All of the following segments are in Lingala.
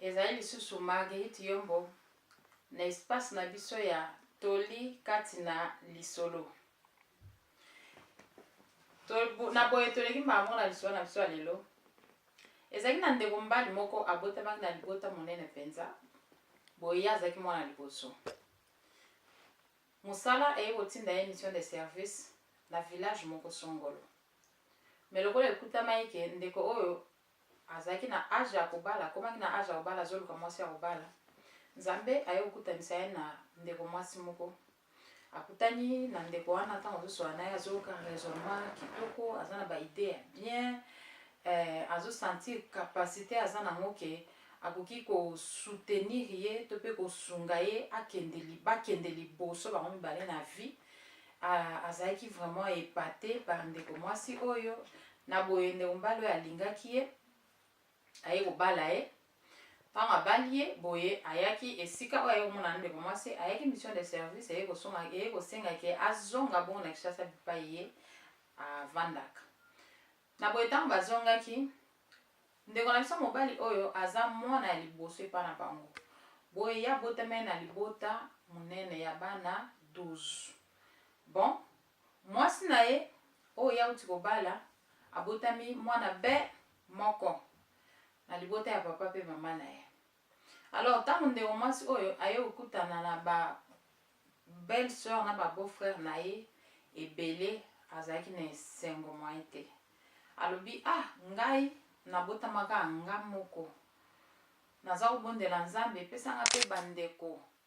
Ezali lisusu Marguerite Yombo na espace na biso ya toli kati na lisolo. Na boye toleki mbala moko na lisolo na biso ya lelo. Ezalaki na ndeko mobali moko abotamaki na libota monene mpenza, boye ye azalaki mwana liboso. Mosala eye kotinda ye mission de service na village moko songolo. Me lokola ekutamaki ke ndeko oyo Azalaki na age ya kobala, akomaki na age ya kobala, azoluka mwasi ya kobala. Nzambe aye kokutanisa ye na ndeko mwasi moko. Akutani na ndeko wana ntango azosola na ye, azoyoka raisonnement kitoko, aza na ba idee ya bien, eh, azosentir capacite aza nango ke akoki kosoutenir ye to mpe kosunga ye akende bakende liboso bango mibale na vie Ah, azalaki vraiment epate par ndeko mwasi oyo na boye ndeko mobali oyo alingaki ye aye kobala ye ntango abali ye boye ayaki esika oyo aye komona na ndeko mwasi ayaki mission de service eye kosengaki azonga bongo na kishasa bipai ye avandaka na boye ntango bazongaki Ndeko na biso mobali oyo aza mwana ya liboso epai na bango, boye ye abotameli na libota monene ya bana 12. Bon, mwasi na ye oyo ye auti kobala abotami mwana be moko na libota ya papa mpe mama na ye. Alors tango ndeko mwasi oyo aye kokutana na ba belle sœur na ba beau frère na ye ebele azalaki na esengo moyen te alobi ah ngai nabotamaka nga moko naza kobondela nzambe epesanga mpe bandeko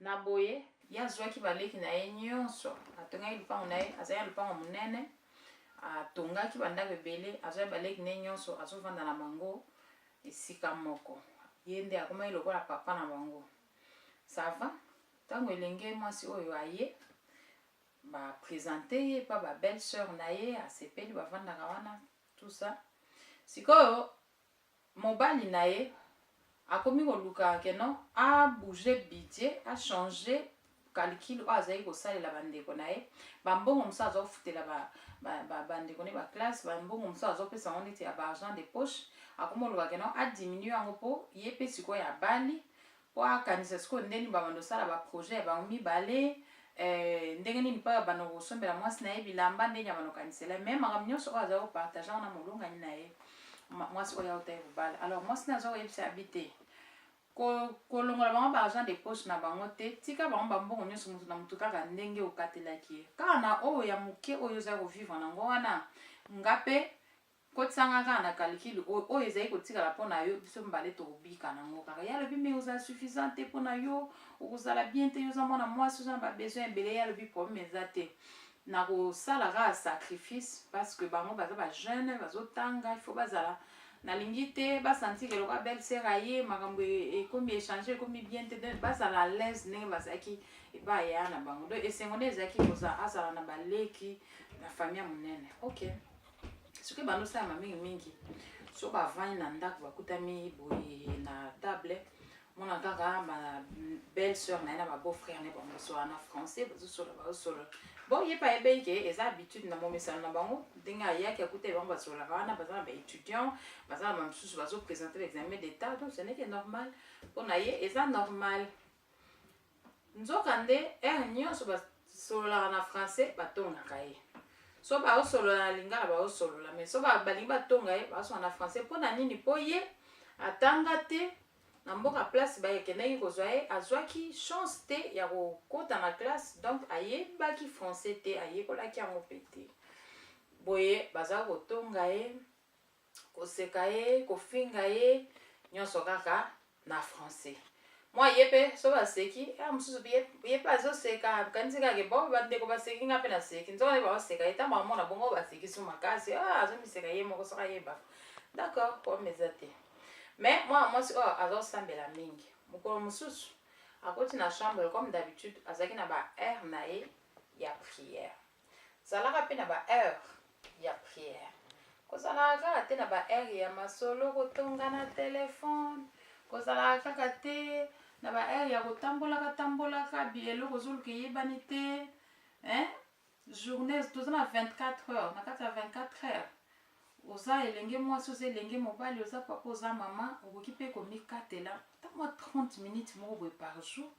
Na boye, ye azwaki baleki na ye nyonso, atongaki lopango na ye, azali na lopango monene, atongaki bandako ebele, azwaki baleki na ye nyonso, azovanda na bango esika moko. Ye nde akomaki lokola papa na bango. Sava, ntango elenge mwasi oyo aye, ba presente ye pa ba belle sœur na ye, asepeli, bavandaka wana, tout ça. Sikoyo, Mobali na ye akomi koluka que non a bouger budget, a changer calcul oyo azalaki kosalela ba ndeko na ye, ba mbongo mosusu aza kofutela ba ba ba ndeko na ye ba classe, ba mbongo mosusu azo pesa yango neti ya ba argent de poche, akomi koluka que non a diminuer yango po ye pe sikoyo abali, Po akanisa sikoyo ndeni babanda kosala ba projet ya bango mibale eh, ndenge nini pa abanda kosombela mwasi na ye bilamba ndeni abanda kokanisela ye me makambo nyonso oyo azali kopartage yango na molongani na ye mwasi oyo auta ye kobala alors mwasi na aza koyebisa ya bi te kolongola bango baargent de poche na bango te tika bango bambongo nyonso moto na moto kaka ndenge okatelaki ye kaka na oyo ya moke oyo ozali kovivre nango wana nga mpe Kotisa nga kaka na calcul oyo, oyo ezali kotikala mpo na yo, biso mibale tokobika na yango kaka. Ye alobi mais ozala suffisant te mpo na yo, okozala bien te, yo oza mwana mwasi, oza na ba besoin ebele. Ye alobi problème eza te, nakosala kaka sacrifice parce que bango baza ba jeune, bazotanga, il faut bazala nalingi te ba sentir que lokola belle sœur aye makambo ekomi échange ekomi bien te, donc bazala à l'aise ndenge bazalaki epai ya na bango. Donc esengo nde ezalaki kozala azala na baleki na famille monene. Okay. soki bando salama mingi mingi so bavandi na ndako bakutami boye na table mona kaka ba belle sœur na ye na ba beau frère na ye bango basola na français bazosolola bazosolola bon ye pa yebeyi ke eza habitude na momesano na bango ndenge ayaki akuteli bango basololaka wana baza na baétudiant baza na bamosusu bazopresente baexamen d'état donc ceneke normal mpo na ye eza normal Nzokande, heure nyonso basololaka na français, batongaka ye. So baosolola na lingala, baosolola. Mais so balingi batonga ye, baosolola na français. Mpo na nini? Mpo ye atanga te na mboka place bakendaki kozwa ye, azwaki chance te ya kokota na classe, donc ayebaki français te, ayekolaki yango mpe te. Boye bazalaki kotonga ye koseka ye kofinga ye nyonso kaka na français mwa ye mpe so baseki ya ah, mosusu ye mpe azoseka kanisi kaka bo bandeko baseki nga mpe naseki nzoka nde baoseka ye ntango bamona bongo baseki su makasi ah, azomiseka ye moko soki ayeba d'accord problème eza te mais mwana mwasi oyo oh, azosambela mingi mokolo mosusu akoti na chambre comme d'habitude azalaki na ba aire na ye ya prière Zalaka pe na ba heure ya prière. Kozalaka kaka te na ba heure ya masolo kotonga na telephone. Kozalaka kaka te na ba heure ya kotambolaka tambolaka bi eloko ozoluka eyebani te. Hein? Journée toza na 24 heures na kati ya 24 heures Oza elenge mwasi, oza elenge mobali, oza papa, oza mama, okoki mpe komikatela ata mwa 30 minutes moko boye par jour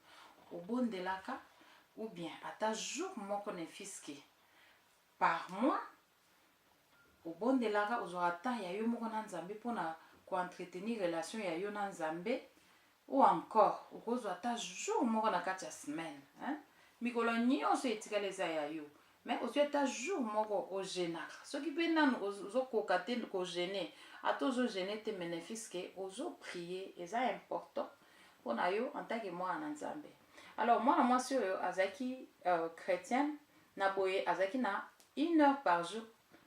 obondelaka ou bien ata jour moko ne fiske par mois obondelaka ozwaka temps ya yo moko na nzambe mpo na koentretenir relation ya yo na nzambe Ou encore okozwa ata jour moko na kati ya semaine hein? Mikolo nionso etikali eza ya yo mais ozwi ata jour moko o genaka soki pe nanu ozo koka te ko gene ata ozo gene te mais nefis que ozo prie eza important pona yo en tant que mwana na Nzambe. Alors mwana mwasi oyo azalaki euh, chretienne na boye azalaki na une heure par jour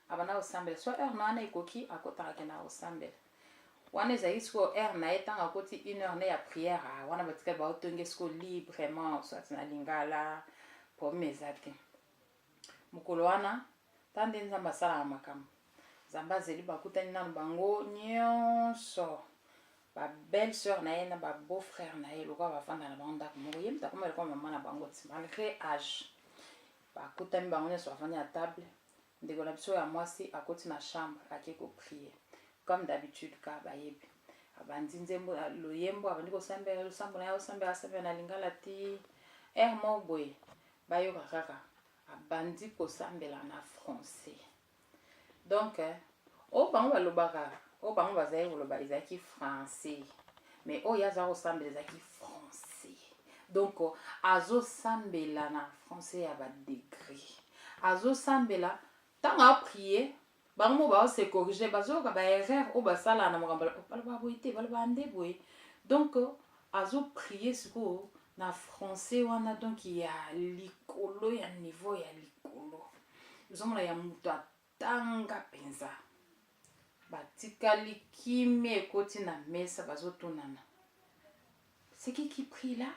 abanda kosambela so heure na wana ekoki akotaka akendaka kosambela wana ezali sikoyo heure na ye ntango akoti une heure ne ya prière ah, wana batikali baotonge sikoyo librement soit na lingala problème eza te mokolo wana ta nde nzambe asalaka makambo nzambe azeli bakutani nano bango nyonso babelle sœur na ye na babeau frère na ye lokola bafanda na bango ndako moko ye moto akomela kwa mama na bango ti malgré age Bakutani bango nionso bavandi na table, ndeko na biso ya mwasi akoti na chambre ake ko prier comme d'habitude kaka bayebi. Abandi nzembo na loyembo abandi kosambela losambo naye asambela asambela na lingala ti heure moko boye bayoka kaka abandi kosambela na français. Donc, oyo bango balobaka, oyo bango bazali koloba ezalaki français. Mais oyo aza kosambela ezalaki français. Donc, azosambela na français ya ba degré. Azosambela ntango aprie bango mo bao se corriger bazoyoka ba erreur oyo basala na makambo baloba boye te baloba nde boye donc Azo prier sikoyo na français wana donc ya likolo ya niveau ya likolo ozomona ya moto atanga mpenza batikali kimia ekoti na mesa bazotunana seki qui prie là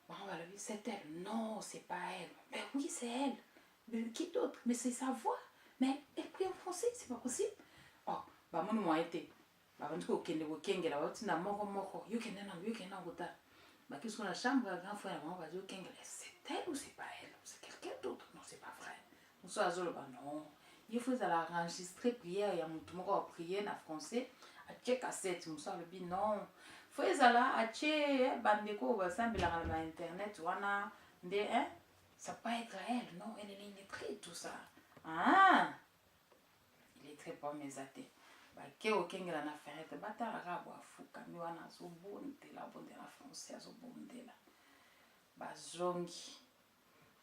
bango balobi c'est elle non c'est pas elle ben oui c'est elle mais qui d'autre mais c'est sa voix mais elle prie en français c'est pas possible oh bamoni moyen te Babandi kokende kokengela, bauti na moko moko, yo kende nango, yo kende nango ta. Bakisi kuna chambre ya grand frère na bango bazo kengela, c'est elle ou c'est pas elle, c'est quelqu'un d'autre, non c'est pas vrai. Mosusu azoloba non. Il faut ezala enregistrer prière ya motu moko ya prière na français, atie cassette, mosusu alobi non. Faut ezala atie bandeko oyo basambelaka na internet wana nde hein, ça peut être elle, non, elle est très tout ça. Ah! Illettré pomme eza te. Bake okengela na ferrete batala kaka bo afukami wana azobondela bondela français azobondela bazongi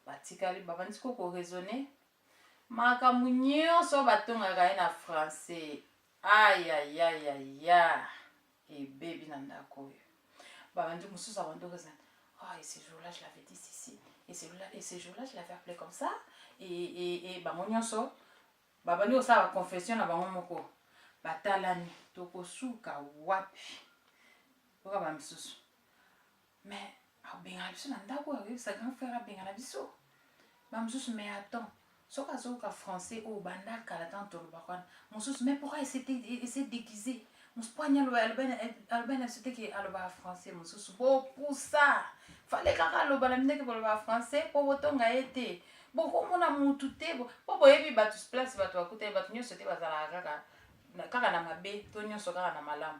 batikali babandisi ko koraisonne makambo nyonso batongaka ye na français ayayayaya ebebi na ndako oyo babandi mosusu abandi okozana Oh, et ce jour-là, je l'avais dit ceci. Et ce jour-là, et ce jour-là, je l'avais appelé comme ça. Et, et, et bango nyonso babandi kosala baconfession na bango moko batalani tokosuka wapi oka bamisusu Mais abengana biso na ndako akoyebisa grand frère abengana biso bamosusu mais attends soki azoyoka français oyo banda kala ntango tolobaka wana mosusu mais pourquoi ese déguise mosusu po anya aloba na biso te ke alobaka français mosusu bopusa fale kaka aloba na bino ke bolobaka français mpo botonga ye te bokomona mutu te mpo boyebi bato place bato bakutani bato nyonso te bazalaka kaka kaka na mabe to nyonso kaka na malamu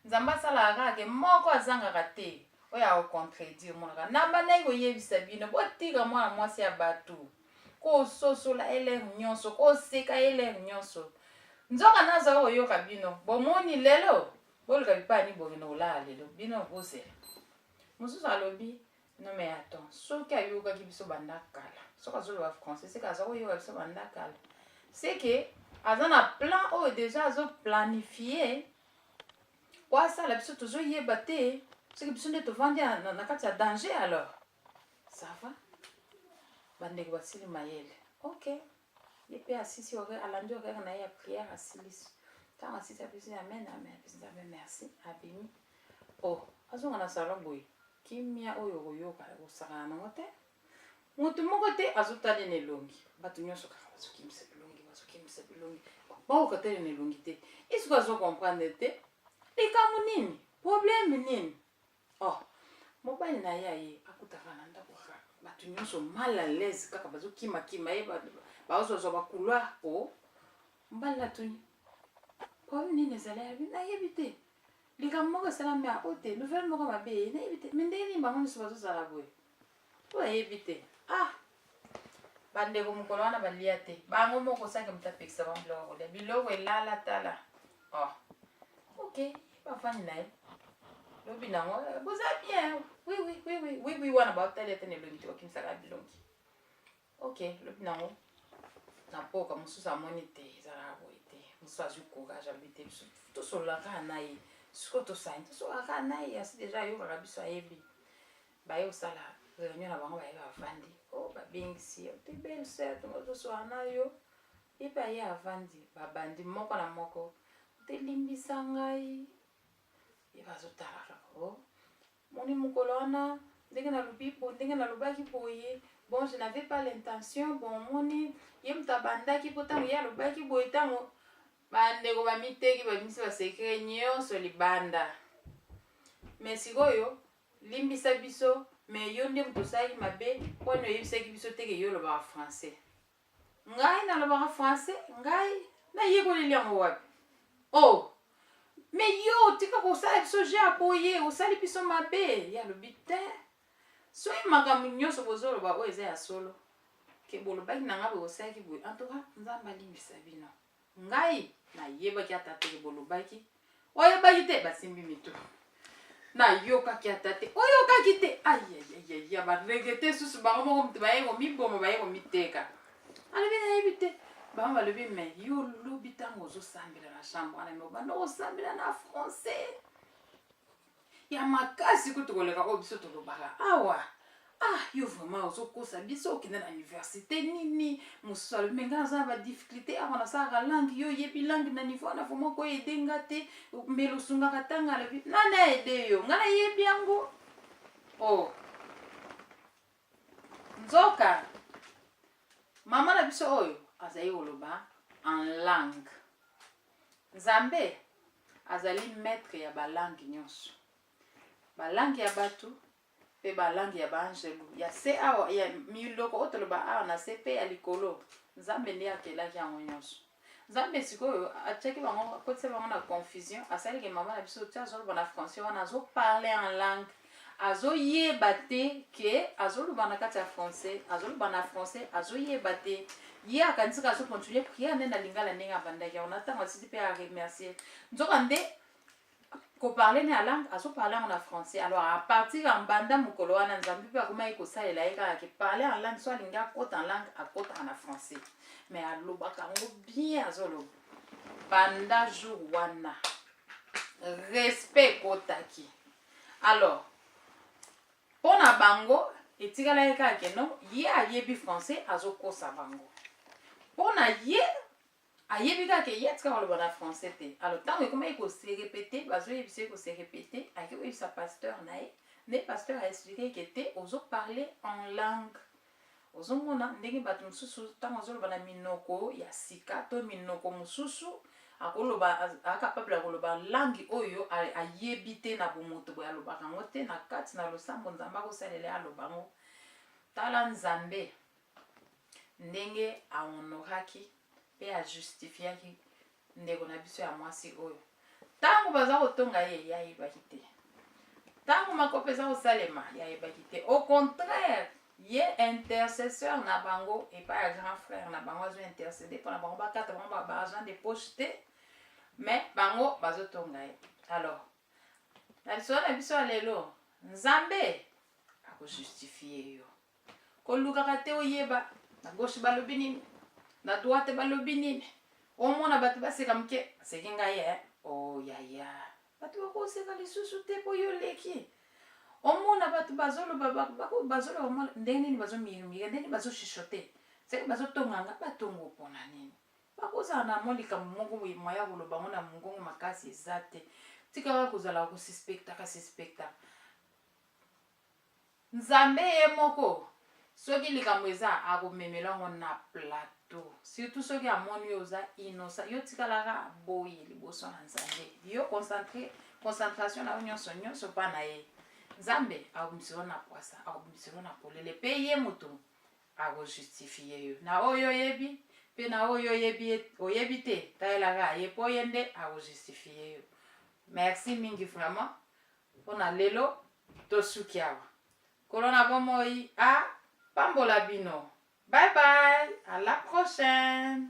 Nzambe asalaka kaka ke moko azangaka te oyo ako contredire monaka na bandaki koyebisa bino botika mwana mwasi ya bato kososola elere nyonso koseka elere nyonso nzoka nazala koyoka bino bomoni lelo boluka bipai ni bokende kolala lelo bino bozela mosusu alobi Non mais attends, soki ayokaki biso banda kala, soki azoloba français, seke aza koyoka biso banda kala, seke aza na plan oyo oh, deja azoplanifie po asala biso tozoyeba te, soki biso nde tovandi na kati ya danger alors ça va bandeko basili mayele ok Ye pe asisi horaire, alandi horaire na ye ya prière, asilisi. Tango asisi apesi amen, amen, apesi Nzambe merci, abimi. Oh, azonga na salon boye, kimia oyo okoyoka, okosakana nango te. Moto moko te azotala ye na elongi. Bato nyonso kaka bazokimisa bilongi, bazokimisa bilongi. Bakoka tala ye na elongi te. Ye sikoyo azo comprendre te. Likambo nini? Problème nini? Oh, mobali na ye aye akutaka na ndako kaka bato nyonso mal à l'aise kaka bazokimakima ye bazozwa bacouloir po mobali natuni problème nini ezali yabi nayebi te likambo moko esalami yango te nouvelle moko mabe ye nayebi te me ndenge nini bango nyonso bazozala boye to ayebi te ah bandeko mokolo wana balia te bango moko sanke moto apekisa bango biloko kolia biloko elala tala oh. ok bafandi na ye lobi nango eh, boza bien wiwiwiwiwi wana baotali ete na elongi te bakimisaka bilongi ok lobi nango na mpoka mosusu amoni te ezalaka boye te mosusu azwi courage alobi te biso tosololaka na ye sikoyo tosani tosololaka na ye asi deja ayokaka biso ayebi baye kosala réunion na bango baye bavandi o oh, babengisi yo te belle sœur tongo tozoswaa na yo ye mpe aye avandi babandi moko na moko te limbisa ngai ye bazotala kaka o oh, moni mokolo wana ndenge nalobi bo ndenge nalobaki boye bon je n'avais pas l'intention bon moni ye moto abandaki mpo ntango ye alobaki boye ntango bandeko bamiteki babimisi basekre nyonso libanda me sikoyo Limbisa biso mais yo nde moto osalaki mabe wana oyebisaki biso te ke yo olobaka français ngai nalobaka français ngai nayekoleli yango wapi o oh. me yo otika kosala biso je ya boye osali biso mabe ye alobi te soki makambo nyonso bozoloba oyo eza ya solo ke bolobaki na ngai boye osalaki boye antuka nzambe alimbisa bino Ngai nayebaki ata te ke bolobaki. Oyebaki te basimbi mitu. Nayokaki ata te. Oyokaki te. Ayayayaya baregete susu bango moko moto baye komiboma baye komiteka. Alobi nayebi te. Bango balobi me yo olobi ntango ozosambela na chambre wana me obanda kosambela na français. ya makasi kutu koleka oyo biso tolobaka awa ah yo vraiment ozokosa biso okende na université nini mosusu alobi me ngai naza na badifficulté awa nasalaka langue yo oyebi langue na niveau wana vraiment okoya ede nga te mbele osungaka ntanga alobi nani aede yo ngai nayebi yango o oh. Nzoka mama na biso oyo azali koloba en langue. Nzambe azali maître ya balangue nyonso, balangue ya bato mpe balangue ya baangelu ya se awa ya miloko oyo toloba awa na se mpe ya likolo. Nzambe nde akelaki yango nyonso. Nzambe sikoyo atiaki bango akotisa bango na confusion asali ke mama na biso ti azoloba na français wana azoparle en langue azoyeba te ke azoloba na kati ya français azoloba na français azoyeba te ye akanisaka azocontinue priere nde na lingala ndenge abandaki yango na ntango asisi mpe aremercie nzoka nde ko parler na langue azo parler yango na français alors à partir ya mbanda mokolo wana nzambe mpe akomaki kosalela ye kaka ke parler en langue so alingi akota en langue akotaka na français mais alobaka yango bien azoloba banda jour wana respect ekotaki alors mpo na bango etikalaki kaka ke non ye ayebi français azokosa bango mpo na ye ayebi kaka ye atika koloba na français te alors ntango ekomaki koserepete bazoyebisa ye koserepete ayaki koyebisa pasteur na ye nde pasteur aexplike ke te ozoparle en langue ozomona ndenge bato mosusu ntango ozoloba na minoko ya sika to minoko mosusu akoloba akapable ya koloba langi oyo ayebi te na bomoto boye alobaka yango te na kati na losambo nzambe akosalela ye aloba yango tala nzambe ndenge a honoraki pe a justifiaki ndeko na biso ya mwasi oyo ntango baza kotonga ye ye ayebaki te ntango makopa eza kosalema ye ayebaki te au contraire ye intercesseur na bango epai ya grand frère na bango azo intercede mpo na bango bakata bango ba argent de poche te mais bango bazotonga ye alors na lisolo na biso ya lelo nzambe akojustifie yo kolukaka te oyeba na gauche balobi nini na droite balobi nini omona bato baseka moke aseki ngai e oyaya oh, bato bakoseka lisusu te mpo yo oleki omona bato bazoloba bazoloba mwa ndenge nini bazomirimika ndenge nini bazoshishote seke bazotonga nga batongo mpona nini bakozala na mwa likambo moko boye mwa ya koloba yango na mongongo makasi eza te tika kaka kozala kosuspektaka suspektaka Nzambe ye moko soki likambo eza ako memela yango na plateau surtout soki amoni yo oza innocent yo tikala ka boye liboso na Nzambe yo concentre concentration na yo nyonso nyonso pa na ye Nzambe akobimiselo na pwasa akobimiselo na polele pe ye moto ako justifie yo na oyo oyebi pe na oyo oyebi oyebi te talela ka ye po ye nde ako justifie yo merci mingi vraiment Mpo na lelo, tosuki awa. Nkolo na bomoi a pambola bino. Bye bye, à la prochaine.